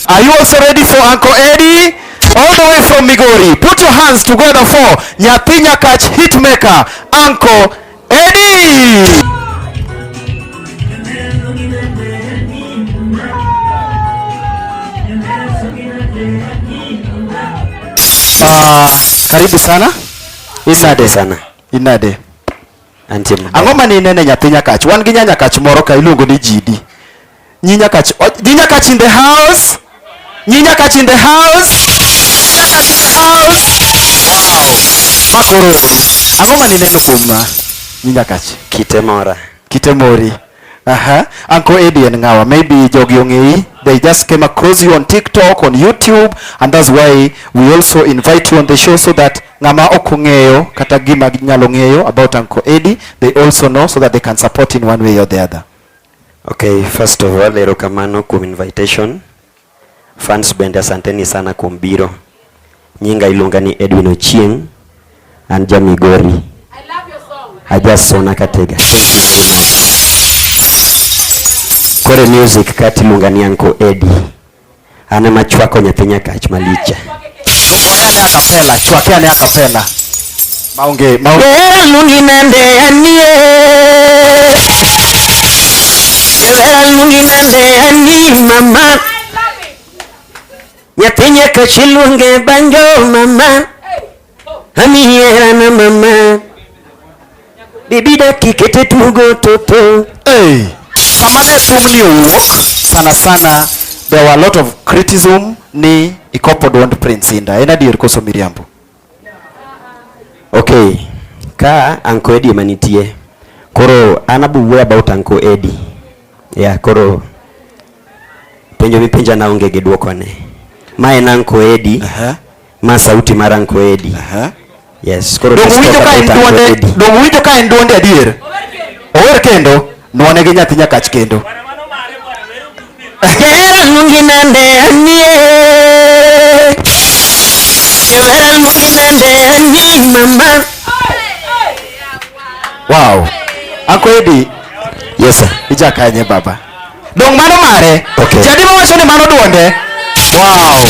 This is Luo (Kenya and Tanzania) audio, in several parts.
Are you also ready for Uncle Eddie? All the way from Migori. Put your hands together for Nyathi Nyakach Hitmaker, Uncle Eddie. Uh, karibu sana. Inade sana. Inade. Antie. Angoma ni nene nyathi nyakach. Wan gi nyanya kach moro ka iluongo ni Jidi. Nyi Nyakach, oh, nyi Nyakach in the house. Nyi Nyakach in the house. Nyakach in the house. Wow. Makoro uru. Ang'o ma nineno kuom ma? Nyi Nyakach. Kite mora. Kite mori. Aha. Uncle Eddie and Ngawa, maybe jogi ongei. They just came across you on TikTok, on YouTube, and that's why we also invite you on the show so that ngama ok ong'eyo kata gima nyalo ng'eyo about Uncle Eddie, they also know so that they can support in one way or the other. Okay, first of all, erokamano kuom invitation. Fans bende asanteni sana kuom biro. Nyinga iluonga ni Edwin Ochieng, an ja Migori. I love your song. I just sona katega. Kore music kati iluonga ni Anko Eddie. An ema chwako nyathi nyakach maliche. Chwakeane akapela, chwakeane akapela. Maonge, maonge. Elungi nende anie. Elungi nende anie mama. Nyathi nyakach iluonge banjo mama. Amiera na mama Bibi daki kete tugo toto Hey, sama ne thumni owuok sana sana there were a lot of criticism ni ikopo dwond Prince Inda. En adier koso miriambo? Okay, ka Anko Eddie ema nitie koro an abuwuoyo about Anko Eddie. Yeah, koro penjo mipenja na onge gi dwokone. Ma en Anko Eddie. Aha. Ma sauti mar Anko Edi. Aha. Yes, koro Donge uwinjo ka en duonde, donge uwinjo ka en duonde adier? Ower kendo, nwane gi nyathi nyakach kendo. Jahera mungi nande anie. Jahera mungi nande anie mama. Wow. Anko Edi. Yes sir. Ijakanye baba. Dong mano mare. Okay. Jadi wacho ni mano duonde. Wow.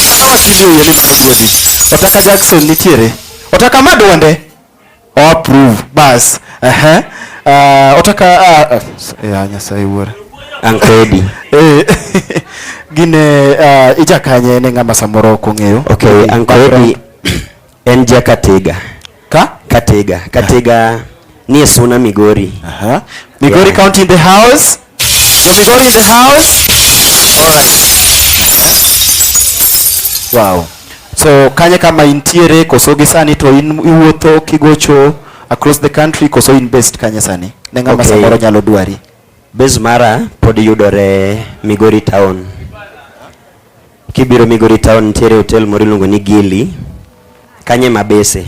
Kata wakili oyie ni mano duonde. Otaka Jackson nitiere. Otaka ma duonde. Oh, approve. Bas. Uh -huh. Uh, otaka uh, uh, ya Nyasaye wuora. Ankedi. Eh. Gine uh, ijakanye ne ng'ama samoro ok ong'eyo. Okay, Ankedi. En ja Katega. Ka? Katega. Katega ni Suna Migori. Aha. Migori yeah. County in the house. So Migori in the house. All right. Wow. So kanye kama intiere koso gi sani to in iwuotho kigocho across the country koso in based kanye sani? Ne ng'ama okay. samoro nyalo dwari. Base mara pod yudore Migori town. Kibiro Migori Town nitiere hotel moro iluongo ni Gili. Kanye mabese.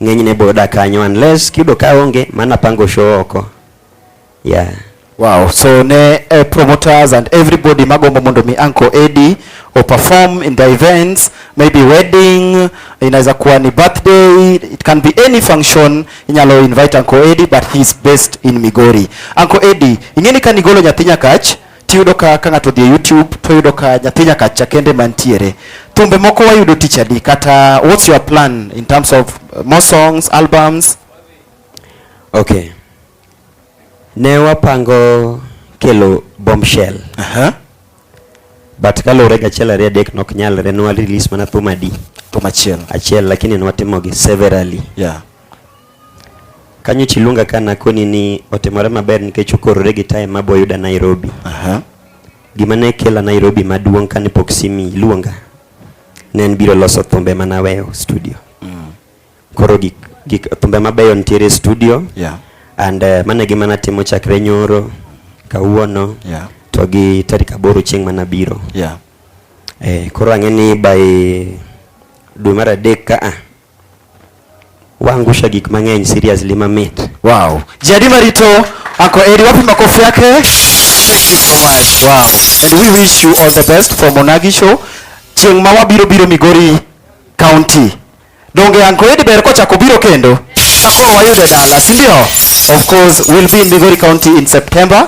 Ng'enyne biro dak kanyo unless kiyudo ka onge mana pango show oko. Yeah. Wow, so ne uh, promoters and everybody magombo mondo mi Uncle Eddie o perform in the events, maybe wedding, inaweza kuwa ni birthday, it can be any function, inyalo invite Uncle Eddie but he is based in Migori. Uncle Eddie, ingeni kanigolo nyathi nyakach tiyudo ka ka ng'ato odhi e YouTube to yudo ka nyathi nyaka cha kende mantiere. Thumbe moko wayudo tich adi kata what's your plan in terms of uh, more songs, albums? Okay. Ne wapango kelo bombshell. Aha. But kaluwore gi achiel ariyo adek nok nyalre nwa release mana thum adi. Thum achiel. Achiel lakini nwatimogi severally. Yeah. Kanyo chiluonga ka nakoni ni otimore maber nikech okorore gi time mabo yuda Nairobi. Aha. Gima ne kela Nairobi maduong' kane pok simi luonga ne en biro loso thumbe mana weyo studio. Mm. Koro gik gik thumbe mabeyo nitiere studio. Yeah. And uh, mana gima natimo chakre nyoro kawuono. Yeah. To gi tarik aboro chieng' mana biro. Yeah. Eh, koro ang'e ni by dwe mar adek ka a Waangusha gik mang'eny seriously mamit. Wow. Jadi Marito ako eri wapi makofi yake? Thank you so much. Wow. And we wish you all the best for Monagi show. Chieng' ma wabiro biro Migori County. Donge Uncle Eddie ber kochako biro kendo? Kakoro wayude dala, si ndio? Of course, we'll be in Migori County in September.